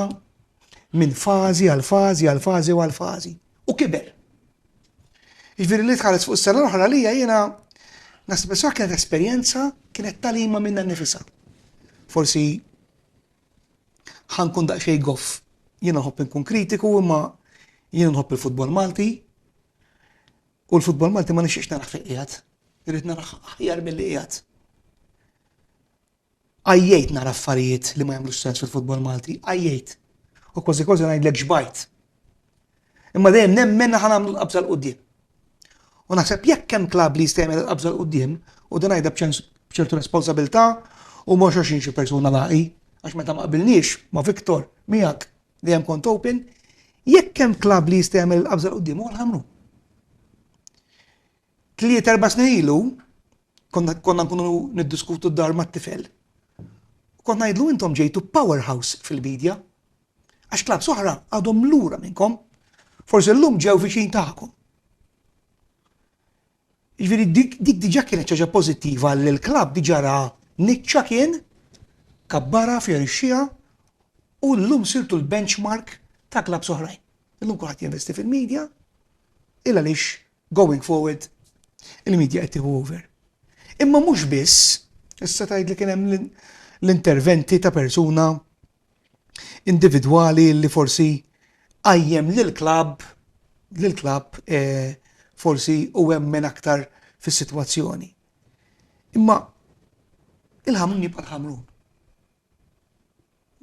minn fażi għal fażi għal fażi għal fażi u kiber. Ġifieri li tħares fuq s-sena l-oħra li jiena nasib sa kienet esperjenza kienet talima minna nifisa. Forsi ħankun daqsxej goff jiena nħobb inkun kritiku imma jiena nħobb il-futbol Malti U l-futbol Malti ma nixtieqx naraħ fejn qiegħed. Irrid naraħ aħjar milli qiegħed. Għajjejt nara affarijiet li ma jagħmlux sens fil-futbol Malti, għajjejt. U kważi kważi ngħidlek ġbajt. Imma dejjem nemmen ħan nagħmlu l-qabża l-qudiem. U naħseb jekk hemm klab li jista' jagħmel l-qabża l-qudiem u dan għajda b'ċertu responsabilità u mhux għax xi persuna laqi għax meta ma qbilniex ma' Viktor miegħek li hemm kont open, jekk hemm klabb li jista' jagħmel il-qabża l-qudiem huwa l-ħamru. Tliet erba' snin ilu konna nkunu niddiskutu d-dar mat-tifel. Kont ngħidlu intom ġejtu powerhouse fil-bidja. Għax klabb soħra għadhom lura minnkom. Forsi llum ġew viċin tagħkom. Jiġifieri dik diġà kienet xi ħaġa pożittiva li l-klabb diġà ra niċċa kien, kabbarha, fjorixxiha u llum sirtu l-benchmark ta' klabbs oħrajn. Illum kulħadd jinvesti fil-media, il għaliex going forward il-media qed tieħu over. Imma mhux biss, issa tgħid li kien hemm l-interventi ta' persuna individwali li forsi qajjem lill-klabb lill-klabb forsi u emmen aktar fis-sitwazzjoni. Imma il-Ħamrun jibqa' l-Ħamrun.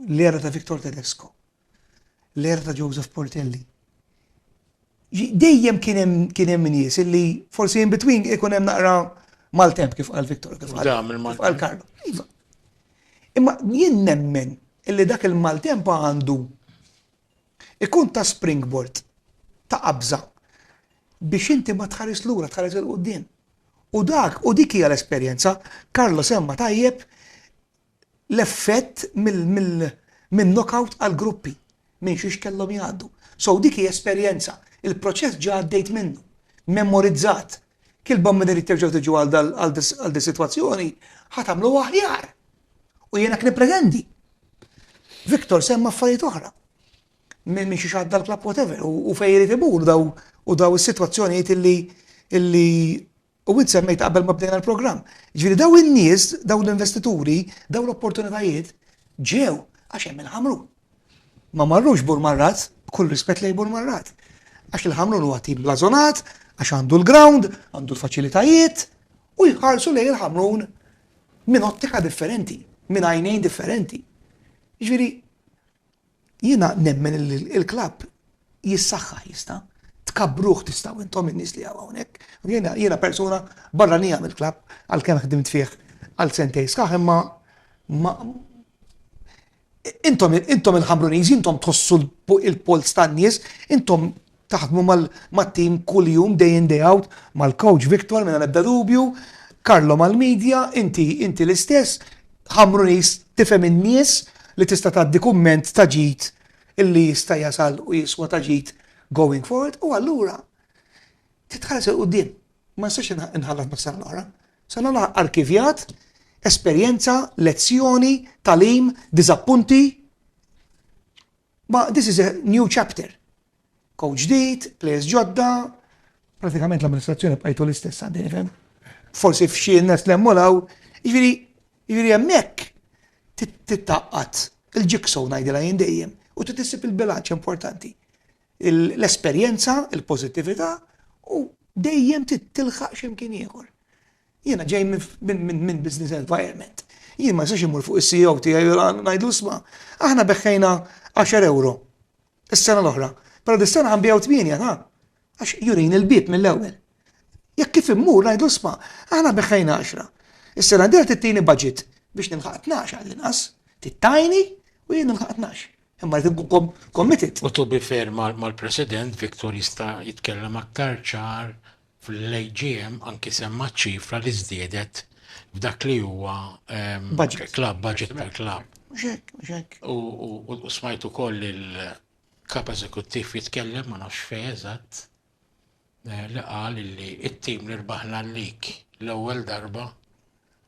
L-era ta' Victor Tedesco, l-era ta' Joseph Portelli, Dejjem kien hemm kien hemm nies illi forsi in between ikun hemm naqra maltemp kif qal Viktor kif qal. Dam il-Maltemp. Kif qal Karlo. Iva. Imma jien nemmen illi dak il-maltemp għandu ikun ta' springboard ta' qabża biex inti ma tħares lura tħares il-qudiem. U dak u dik hija l-esperjenza Karlo semma tajjeb l-effett mill-knockout għall-gruppi, minn xiex kellhom jgħaddu. So dik hi esperjenza, il-proċess ġa għaddejt minnu, memorizzat. Kilba meta trid terġgħu tiġu għal dis-sitwazzjoni, ħa tagħmlu aħjar. U jien hekk nippretendi. Victor semma affarijiet oħra. Minn xiex għadda l-klabb whatever, u fejn irid imur daw u daw is-sitwazzjonijiet illi U int semmejtha qabel ma bdejna l-programm. Jiġifieri dawn in-nies, dawn l-investituri, dawn l-opportunitajiet ġew għax hemm il-Ħamrun. Ma marrux Bur Marrazz, b'kull rispett lejn Bur Marrazz. Għax il-Ħamrun huwa tim blażonat, għax għandu l-ground, għandu l-faċilitajiet u jħarsu lejn il-Ħamrun minn ottika differenti, minn għajnejn differenti. Jiġifieri Jiena nemmen li l-klabb jissaħħaħ jista'. Tkabbruh tistgħu intom in-nies li hawn hawnhekk. Jiena persuna barranija mill-klabb għalkemm ħdimt fih għal sentejn sħaħ imma ma Intom il-Ħamruniżi intom tħossu l-polz tan-nies, intom Taħdmu mat-tim kuljum day in day out mal-coach Victor mingħajr ebda dubju, Carlo mal-media, inti inti l-istess, Ħamru nies tifhem in-nies li tista' tgħaddi kumment ta' ġid illi jista' jasal u jiswa ta' ġid going forward u allura trid tħares 'il quddiem. Ma nistax inħallat mas-sena l-oħra. Sena l-oħra arkivjat, esperjenza, lezzjoni, tagħlim, diżappunti. Ma this is a new chapter. Coach ġdid, players ġodda, pratikament l-amministrazzjoni bqajtu l-istess għandi nifhem. Forsi f'xi nes l-emmolaw, jiġifieri jiġifieri hemmhekk tittaqqat il-ġiksow ngħidilha jien dejjem u titissib il-bilanċ importanti. L-esperjenza, il-pożittività u dejjem titilħaq x'imkien ieħor. Jiena ġej minn business environment. Jien ma nistax immur fuq is-CEO tiegħi u ngħidlu isma', aħna beħħejna għaxar ewro s-sena l-oħra, però dis-sena ħa nbiegħu tmienja, ta? Għax jurini l-bieb mill-ewwel. Jekk kif immur ngħidlu isma', aħna beħħejna għaxra. Is-sena d-dieħla trid tini budget biex nilħaq tnax għall-inqas. Trid tgħinni u jien nilħaq tnax. Imma rrid inkun committed. U to be fair mal-President, Victor jista' jitkellem aktar ċar fl-AGM anki semma ċ-ċifra li żdiedet f'dak li huwa club budget per club. Mhux hekk, mhux hekk. U smajt ukoll il-kap eżekuttiv jitkellem ma nafx fejn eżatt eh, li qal li t-tim li rbaħna l-lik l-ewwel darba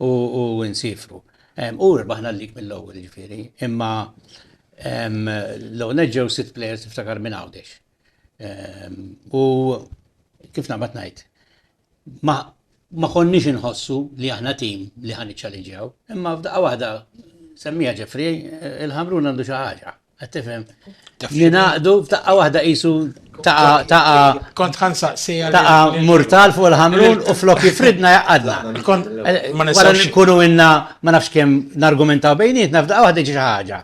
u nsiefru. U rbaħna l-lig mill-ewwel jiġifieri, imma l-ewwel nett ġew sitt plejers tiftakar minn Għawdex. U kif naqbad ngħid, ma konniex inħossu li aħna tim li ħa niċċalinġjaw, imma f'daqqa waħda semmieha Ġefri, il-Ħamrun għandu xi ħaġa. Qed tifhem. Jingħaqdu f'daqqa waħda qisu taqa taqa kont ħansaqsi taqa murtal fuq il-ħamrun u flok jifridna jaqadna. Eh, ma nistax nkunu inna ma nafx kemm nargumentaw bejnietna f'daqqa waħda ġi ħaġa.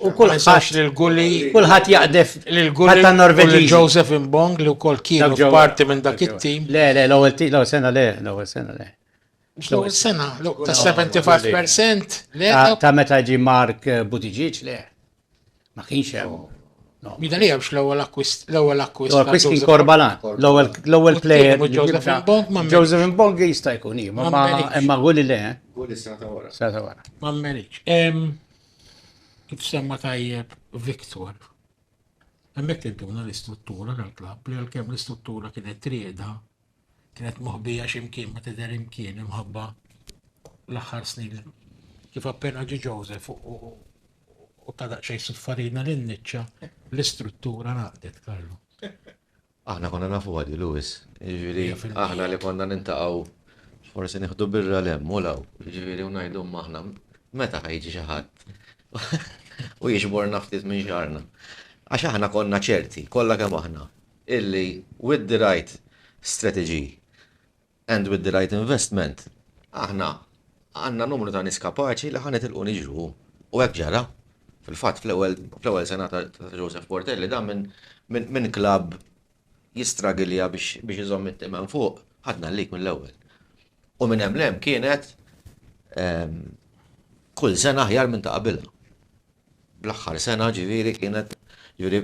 U kull ħax li l-gulli. Kulħat jaqdef. L-gulli. Ta' Norvegi. Joseph Imbong li u kol kienu parti minn dak it-tim. Le, le, l-ewel tim, l-ewel sena le, l-ewel sena le. Mhux l-ewwel sena, ta' 75% le. Ta' meta ġi Mark eh, Buttigieg le. Ma kienx hemm. Mida li għabx l-ewwel akkwist. L-ewwel akkwist. L-ewwel akkwist kien Korbala. L-ewwel player. Joseph Mbong ma Joseph Mbong jista' jkun hi, ma imma għuli le. Għuli sena ta' wara. Sena ta' wara. Ma mmerix. Kif semma tajjeb Victor. Hemmhekk tintuna l-istruttura tal-klabb li għalkemm l-istruttura kienet trieda kienet moħbija x'imkien ma tidher imkien imħabba l-aħħar snin. Kif appena ġi Joseph u ta' daqsxejn suffarina lil niċċa l-istruttura naqdet Karlu. Aħna konna nafu għadi Lewis, ġifieri aħna li konna nintaqgħu forsi nieħdu birra lemm u law, ġifieri u ngħidu aħna meta ħajġi xi ħadd u jiġbor naftit minn xarna. Għax aħna konna ċerti, kollha kemm aħna, illi with the right strategy and with the right investment aħna għandna numru ta' nies kapaċi li ħa nitilqu niġru u hekk ġara. Fil-fatt fl-ewwel sena ta' Joseph Portelli dan minn klabb jistragilja biex iżomm it-tim hemm fuq, ħadna l-lig mill-ewwel. U minn hemm 'l hemm kienet kull sena aħjar minn ta' qabilha. Bl-aħħar sena ġifieri kienet ġifieri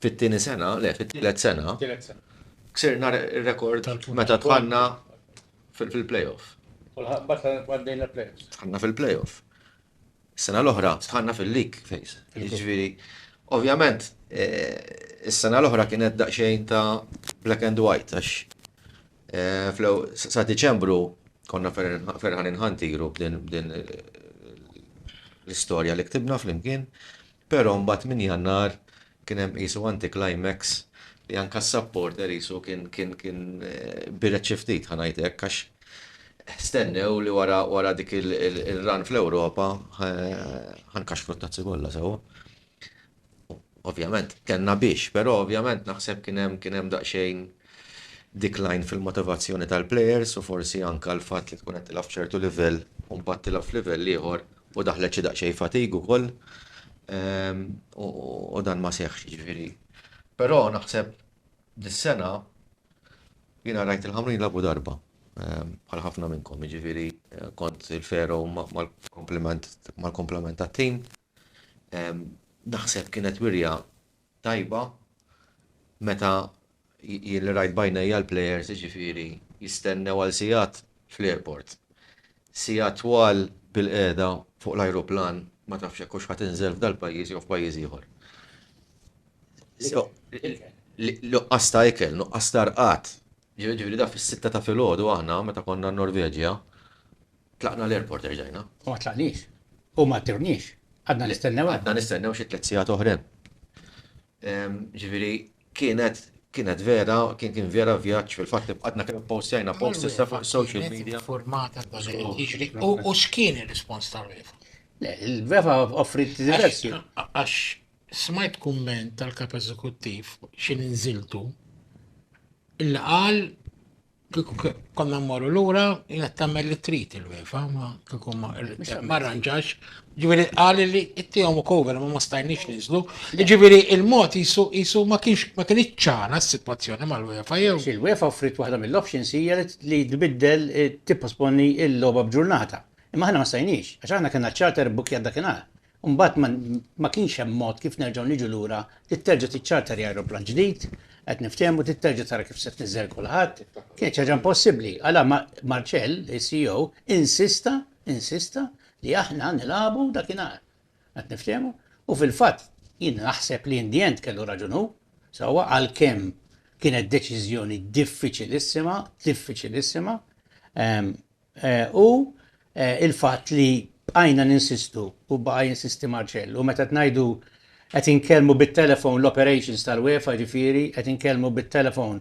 fit-tieni sena, le fit-tielet sena, ksirna r-rekord meta dħalna fil-playoff. Dħalna fil-playoff. Is-sena l-oħra dħalna fil-league phase. Jiġifieri, ovvjament, is-sena l-oħra kienet daqsxejn ta' black and white għax sa Diċembru konna ferħanin ħantiru b'din l-istorja li ktibna flimkien. Pero mbagħad minn Jannar kien hemm qisu anti-climax li anka s-supporter qisu kien kien kien bired xi ftit ħa ngħid hekk għax stennew li wara wara dik il-run fl-Ewropa ħa nkaxkru t-tazzi kollha sewwa. Ovvjament kellna biex, pero ovvjament naħseb kien hemm kien hemm daqsxejn decline fil-motivazzjoni tal-players u forsi anka l-fatt li tkun qed tilgħab f'ċertu livell u mbagħad tilgħab f'livell ieħor U daħlet xi daqsxejn fatigue ukoll u dan ma seħħx jiġifieri. Però naħseb dis-sena jiena rajt il-Ħamrun jilagħbu darba bħal ħafna minnkom jiġifieri kont il-Faro mal-kumpliment mal-kumplament tat-tim. Naħseb kienet wirja tajba meta jien li rajt b'għajnejja l-plejers jiġifieri jistennew għal sigħat fl-airport. Sigħat twal bilqiegħda fuq l-ajruplan ma tafx jekk hux ħa tinżel f'dal-pajjiż jew f'pajjiż ieħor. Nuqqas ta' ikel, nuqqas ta' rqad. Jiġifieri dak fis-sitta ta' filgħodu aħna meta konna n-Norveġja Tlaqna l-airport erġajna. U ma tlaqniex. U ma tewniex. Għadna nistennew hemm. Għadna nistennew xi tliet sigħat oħrem. Ġifieri kienet kienet vera, kien kien vera vjaġġ fil-fatt li bqgħetna kemm ippostjajna posts issa fuq is-social media. Informata dwar li qed jiġri u x'kien ir-rispons tal-UEFA? Le, il-UEFA offriet diversi. Għax smajt kumment tal-Kap Eżekuttiv xi nżiltu li qal Kieku konna mmorru lura, jina tagħmel li trid il-wefa, ma kieku ma arranġax. Ġifieri qal li ittihom u cover ma ma stajniex niżlu. Ġifieri il-mod jisu jisu ma kienx ma kienx ċara s-sitwazzjoni mal-wefa jew. Il-wefa offrit waħda mill-options hija li tbiddel tipposponi l-logħba b'ġurnata. Imma aħna ma stajniex, għax aħna kellna ċ-charter bbukkjat dakinhar. u mbagħad ma ma kienx hemm mod kif nerġgħu niġu lura, trid terġa' tiċċarter ajruplan ġdid, qed niftehmu trid terġa' tara kif se tniżżel kulħadd. Kienet xi ħaġa impossibbli. Għala ma Marcel, is-CEO, insista, insista li aħna nilagħbu dakinhar. Qed niftehmu? U fil-fatt jien naħseb li in the end kellu raġun hu, sewwa, għalkemm kienet deċiżjoni diffiċilissima, diffiċilissima, ehm, Hu l-fatt li bqajna ninsistu u baqa' jinsisti Marcel, u meta qed ngħidu qed inkellmu bit-telefon l-operations tal-UEFA jiġifieri qed inkellmu bit-telefon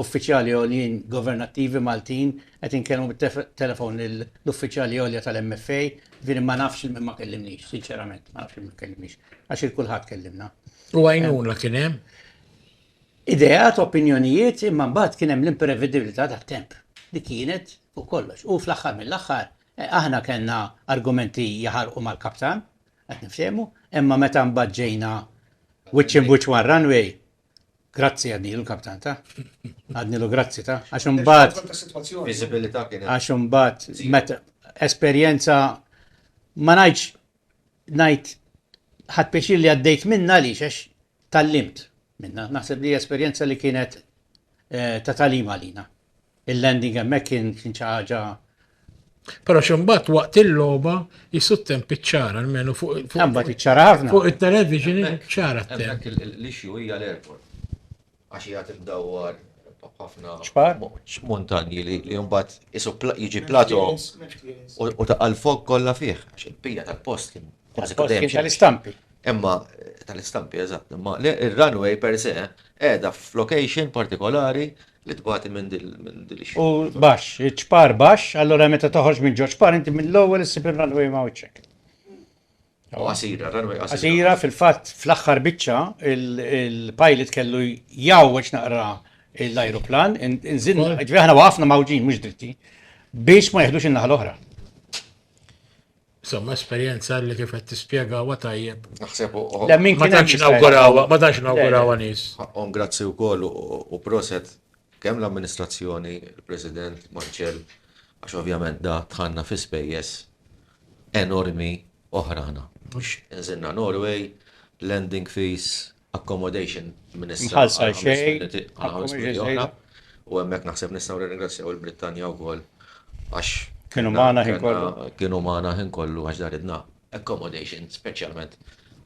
uffiċjali għoljin governattivi Maltin, qed inkellmu bit-telefon lill-uffiċjali għolja tal-MFA, jiġifieri ma nafx il-min ma kellimniex, sinċerament ma nafx il-min ma kellimniex, għax il-kulħadd kellimna. U għajnuna kien hemm? ideat, opinjonijiet, imma mbagħad kien hemm l-imprevedibilità tat-temp li kienet fuq kollox. U fl-aħħar mill-aħħar eh, aħna kellna argumenti jaħarqu mal-kaptan, qed niftehmu, imma meta mbagħad ġejna wiċċ imbuċ ma' runway, grazzi għadni l-kaptan ta' għadni l grazzi ta' għax imbagħad għax imbagħad meta esperjenza ma ngħidx ngħid ħadt pjaċir li għaddejt minnha għaliex għax tgħallimt minnha. Naħseb li esperjenza li kienet eh, ta' talim għalina. Il-landing hemmhekk kien kien xi ħaġa Pero ximbat waqt il-loba jissu temp iċċara, almenu fuq Għambat iċċara ħafna. fuq il-television iċċara temp. Dak l-issue hija l-airport. għax hija tiddawwar b'ħafna montanji li jumbat isu jiġi plato u ta' għal-fog kollha fih, għax il-pija tal-post kien tal-istampi. Imma tal-istampi, eżatt, imma il-runway per se edha f'location partikolari li tbati minn dil U bax, ċpar bax, allora meta toħorġ minn ġo ċpar, inti mill-ewwel issib il-runway ma' uċċek. U qasira, runway qasira. Qasira, fil-fatt fl-aħħar biċċa il-pilot kellu jgħawweġ naqra l-ajruplan, inżinna, ġifieri aħna waqafna mawġin mhux dritti biex ma jeħdux in-naħa l-oħra. Insomma, esperjenza li kif qed tispjega huwa tajjeb. Naħseb uħu. Le min Ma kien hemm tantx jista' nawgurawa, ma tantx nawgurawa nies. Ħaqqhom grazzi wkoll u u proset kemm l-amministrazzjoni, il-President Marċell, għax ovvjament da tħanna fi spejjeż enormi oħrana. Mhux inżilna Norway, landing fees, accommodation minn issa. Mħallsa għal xejn. U hemmhekk naħseb nistgħu nirringrazzjaw il-Brittanja wkoll għax. Kienu magħna ħin kollu. Kienu magħna ħin kollu għax daridna accommodation speċjalment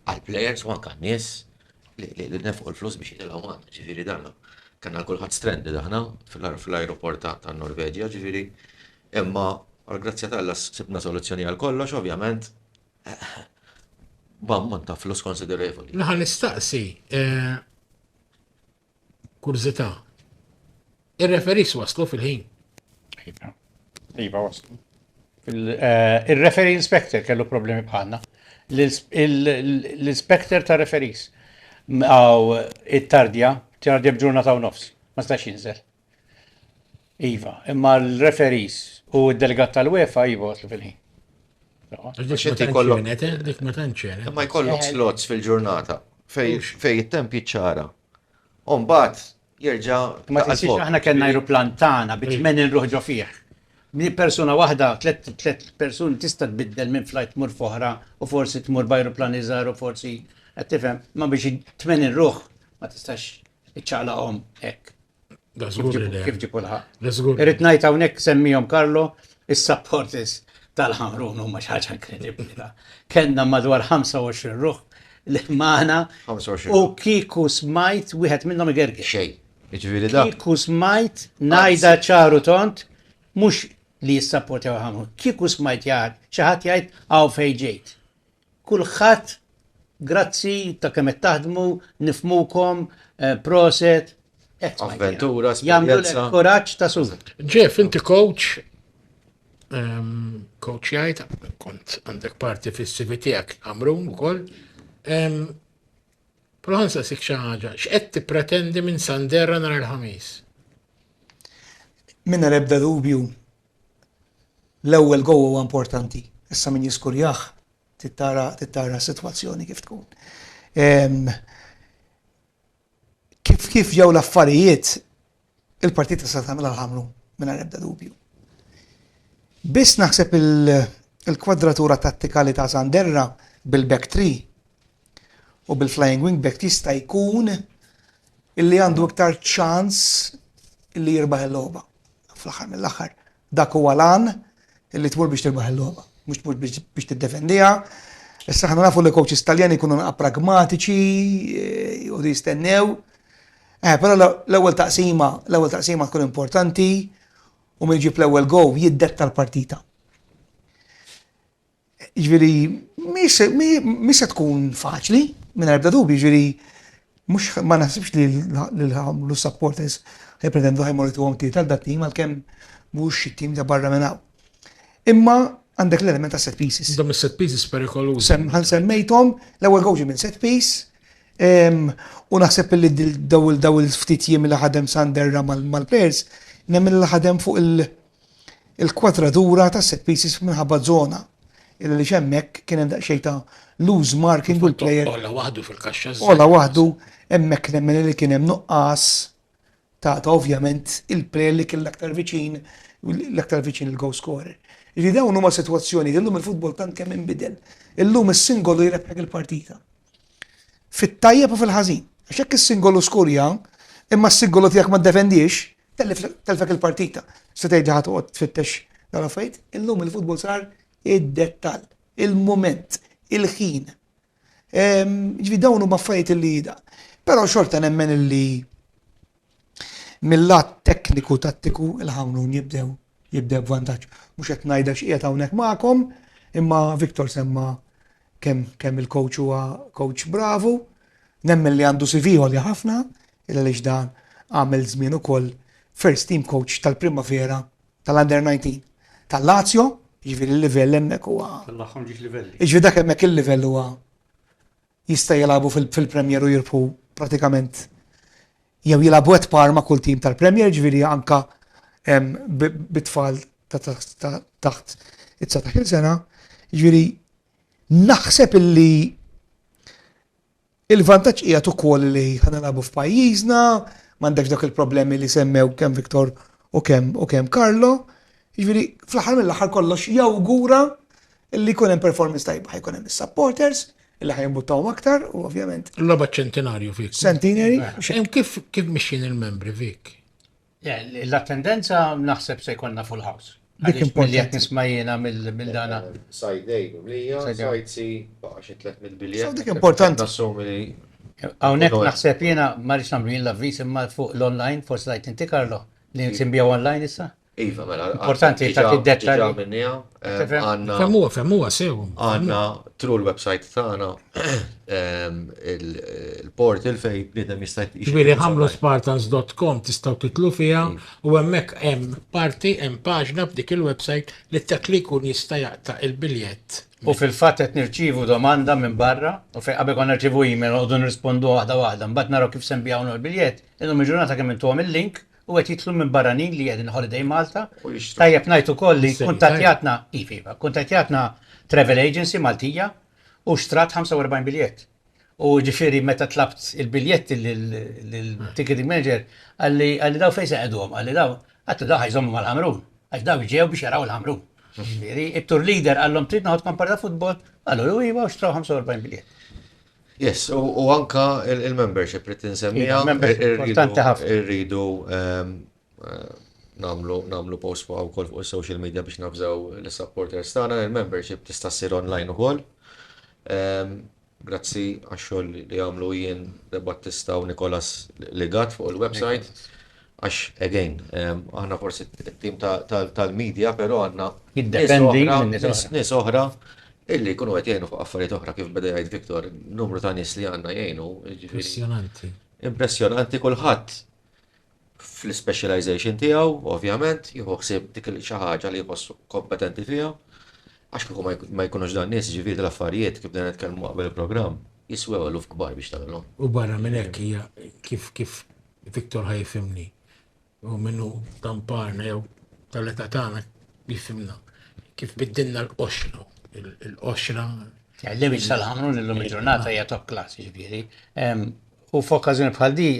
għal players u anke nies li nefqu l-flus biex jitilgħu magħna, ġifieri dan. Kellna kulħadd stranded aħna fl-ajruport ta' Norveġja, ġifieri Imma għall-grazzja t'Alla sibna soluzzjoni għal kollox, ovvjament, b'ammont ta' flus konsiderevoli. Naħa nistaqsi kurżità. Ir-referis waslu fil-ħin? Iva. Iva waslu. Eh, Il-referi inspector kellu problemi bħalna. L-inspector ta' referis għaw it-tardja, tardja bġurna ta' nofs, ma stax jinżel. Iva, imma l-referees u d-delegat tal-UEFA jibu għaslu fil-ħin. Dik ma tantxenet, eh, dik ma tantxenet. Imma jkollok slots fil-ġurnata fej it-temp jiċċara. Umbat, jirġa. Ma tinsiex aħna kellna aeroplan tagħna bi tmien ruħ ġo fih. Min persuna waħda, tliet persuni tista' tbiddel minn flight tmur foħra u forsi tmur b'aeroplan iżgħar u forsi qed tifhem, ma biex tmien ruħ ma tistax Iċċaqlaqhom hekk. Kif ġipu l-ħaq. Irrid ngħid hawnhekk semmihom Karlo, is-supporters tal-ħamrun huma xi ħaġa inkredibbli. Kenna madwar 25 ruħ li magħna u kiku smajt wieħed minnhom igergi. Xej. Ġifieri da. Kiku smajt ngħidha ċaru tont mhux li jissapportew ħamrun. Kiku smajt jgħid xi ħadd jgħid hawn fejn ġejt. Kulħadd grazzi ta' kemm qed taħdmu, nifhmukom, proset. Avventura, esperjenza. Jagħmlulek kuraġġ ta' sur. Jeff, inti coach, coach jgħid, kont għandek parti fis-CV tiegħek Amrun ukoll. Proħansa sik xi ħaġa, x'qed tippretendi minn Sanderra nhar il-Ħamis? Mingħajr ebda dubju L-ewwel goal huwa importanti, issa min jiskurjah trid tara trid tara s-sitwazzjoni kif tkun. Ehm, kif kif ġew l-affarijiet il-partita se tagħmilha l-ħamru mingħajr ebda dubju. Biss naħseb il-kwadratura tattikali ta' Sanderra bil-back tree u bil-flying wing back jista' jkun illi għandu iktar ċans illi jirbaħ il-logħba. fl-aħħar mill-aħħar dak huwa l-għan li tmur biex tirbaħ il-logħba, mhux tmur biex tiddefendiha. Issa aħna nafu li coaches Taljani jkunu naqa' pragmatiċi, jgħodu eh, jistennew. Eh, però l-ewwel taqsima, l-ewwel taqsima tkun importanti u min ġib l-ewwel go jiddetta l-partita. Ġifieri mhix se tkun faċli mingħajr ebda dubju, ġifieri mhux ma naħsibx li l-supporters jippretendu ħajmorru tuhom tiet għal dat-tim għalkemm mhux xi tim ta' barra minn hawn. Imma għandek l-element ta' set pieces. Dom is-set pieces perikolużi. Ħan semmejthom, l-ewwel gowġi minn set piece, u naħseb li daw il-ftit jiem li ħadem Sanderra mal-players, nemmen li ħadem fuq il-kwadratura ta' set pieces minħabba żona il għaliex hemmhekk kien hemm daqsxejn ta' loose marking u l-player. Ola waħdu fil-kaxxa. Ola waħdu hemmhekk nemmen li kien hemm nuqqas ta' ovvjament il-player li kien l-aktar viċin l-aktar viċin il-goal scorer. Ġifieri dawn huma sitwazzjonijiet illum il-futbol tant kemm inbidel. Illum is-singolu jrebħek il-partita. Fit-tajjeb u fil-ħażin. Għax jekk is-singolu skurja, imma s-singolu tiegħek ma ddefendiex, tellfek il-partita. Se tgħid li ħa toqgħod tfittex dan l-affarijiet? Illum il-futbol sar id-dettall, il-mument, il-ħin. Ehm, ġifi dawn huma affarijiet li da. Però xorta nemmen li Mil-lat tekniku tattiku il-Ħamrun jibdew jibdew b'vantaġġ. Mhux qed ngħidha x'qiegħed hawnhekk magħkom, imma Victor semma kemm kemm il-coach huwa coach bravu, nemmen li għandu CV għolja ħafna, illa lix dan għamel żmien ukoll first team coach tal-primavera tal-under 19 tal-Lazio, jiġifieri l-livell hemmhekk huwa. Tal-aħħar ġiex livelli. Jiġifieri dak hemmhekk il-livell huwa Jista' jilagħbu fil-Premier u jirbħu pratikament jew jilagħbu at par ma' kull tim tal-Premier, jiġifieri anke bit-tfal ta' taħt it-dsatax-il sena. Jiġifieri naħseb illi il-vantaġġ qiegħed ukoll li ħa nilagħbu f'pajjiżna, m'għandekx dawk il-problemi li semmew kemm Victor u kemm Carlo. Jiġifieri fl-aħħar mill-aħħar kollox jawgura li jkun hemm performance tajba, ħa jkun hemm is-supporters, Li ħa jimbuttawhom aktar u ovvjament. L-logħba ċentinarju fik. Centenary. Eh, kif kif mixin il-membri fik? Eh, l-attendenza naħseb se jkollna full house. Dik importanti. Qed nisma' jiena mill-dana. Eh, sajdejn u mlija, sajd si baqa' xi 300 biljet. Dik importanti. Hawnhekk naħseb jiena ma rridx nagħmlu jien l-avviż imma fuq l-online forsi rajt inti Karlo li nsimbija online issa. Iva, mela, importanti ta' tiddetta. Ġa minnija, għanna. Femmuwa, femmuwa, sew. Għanna, tru l-websajt tagħna, il-portal fej bnidem jista' Ġviri, ħamlu spartans.com tistaw titlu fija u hemmhekk hemm parti hemm paġna f'dik il-websajt li dak li jkun jista' jaqta' il-biljett. U fil-fatt qed nirċievu domanda minn barra u fejn qabel konna nirċievu email noqogħdu nirrispondu waħda waħda, mbagħad naraw kif se nbigħu l-biljett, illum il-ġurnata kemm intuhom il-link u qed jidħlu minn barranin li qegħdin holiday Malta. Tajjeb ngħid ukoll li kuntattjatna, iva iva, kuntattjatna travel agency Maltija u xtrat 45 biljett. U ġifieri meta tlabt il-biljetti lill-ticketing manager għalli għalli daw fejn se qegħduhom, għalli daw għattu daw ħajżommu mal-Ħamrun, għax daw ġew biex jaraw il-Ħamrun. Ġifieri it-tour leader qallhom trid noħodkom parta futbol, qalu iva u xtraw 45 biljett. Yes, u anka il-membership li tinsemmiha. Importanti ħafna. Irridu nagħmlu post fuq ukoll fuq is-social media biex nafżaw l-supporters tagħna. Il-membership tista' ssir online ukoll. Grazzi għax-xogħol li għamlu Ian De Battista u Nicholas Legat fuq il-website. Għax, again, aħna forsi t-tim tal-media, pero għanna. Jiddependi minn nies oħra. Nies oħra illi jkunu qed jgħinu fuq affarijiet oħra kif beda jgħid Victor, numru ta' nies li għandna jgħinu. Impressjonanti. Impressjonanti kulħadd fl-specialization tiegħu, ovvjament, jieħu ħsieb dik xi ħaġa li jħossu kompetenti fiha. Għax kieku ma jkunux dan nies ġifieri l-affarijiet kif dan nitkellmu qabel il-programm jiswew eluf kbar biex tagħmilhom. U barra minn hekk hija kif kif Victor ħa jifhimni u min hu ta' mparna jew tal-età tagħna jifhimna kif biddilna l-qoxra, il-qoxra. L-image tal-Ħamrun illum il-ġurnata hija top class, jiġifieri. U f'okkażjoni bħal din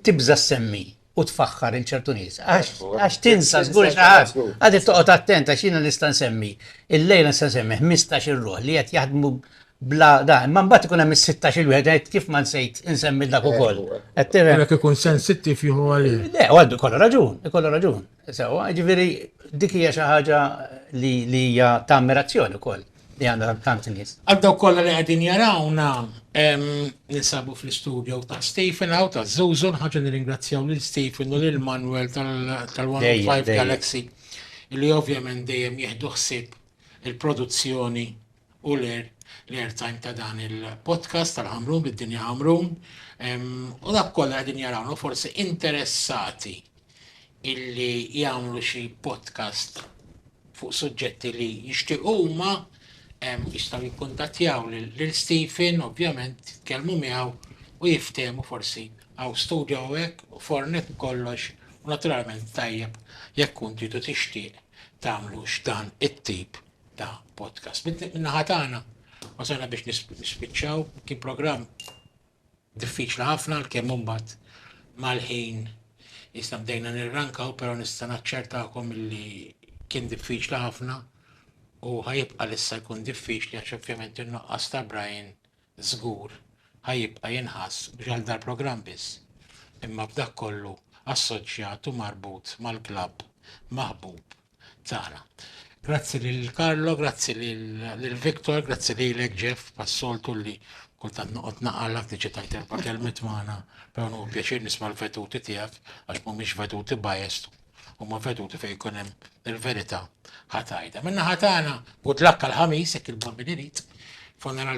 tibża' ssemmi u tfaħħar il ċertu nies. Għax tinsa żgur xaħat, għadit toqgħod attent għax jiena nista' nsemmi. Il-lejla nista' nsemmi 15 il-ruħ li qed jaħdmu bla da, imma mbagħad ikun hemm is-16 il wieħed qed kif ma nsejt insemmi dak ukoll. Qed tifhem. Jekk ikun sensittiv jieħu għalih. Le, għandu kollu raġun, ikollu raġun. Sewwa, jiġifieri dik hija xi ħaġa li hija ta' ammirazzjoni wkoll li għandna tant nies. Għal dawk kollha li qegħdin jarawna, ninsabu fl-istudio ta' Stephen hawn ta' Zuzu, nħarġu nirringrazzjaw lil Stephen u lil Manuel tal-105 Galaxy li ovvjament dejjem jieħdu ħsieb il-produzzjoni u l-airtime ta' dan il-podcast tal-Qamrun bid-Dinja Qamrun u dawk kollha qegħdin jarawna u forsi interessati illi jagħmlu xi podcast fuq suġġetti li jixtiequ huma jistgħu jikkuntattjaw lil Stephen ovvjament jitkellmu miegħu u jiftehmu forsi għaw studio hekk u fornet kollox u naturalment tajjeb jekk kun tridu tixtieq tagħmlux dan it-tip ta' podcast. Min-naħa tagħna wasalna biex nispiċċaw, kien programm diffiċli ħafna l-kemm imbagħad mal-ħin jista' bdejna nirrankaw, però nista' naċċertakom li kien diffiċli ħafna u ħajibqa' lissa jkun diffiċli għax ovvjament in-nuqqas ta' Brian żgur ħa jibqa' jinħass mhux għal dal-programm biss, imma b'dak kollu assoċjat u marbut mal-klabb maħbub tagħna. Grazzi lil Carlo, grazzi lil Victor, grazzi lilek Jeff pas-soltu li kultant noqgħod naqalgħek tiġi tgħid erba' kelmiet magħna, però hu pjaċir nisma' l-veduti tiegħek għax mhumiex veduti biased, huma veduti fejn ikun hemm il-verità ħa tgħidha. Min-naħa tagħna, good luck għall-Ħamis jekk il-Bambini irid, funeral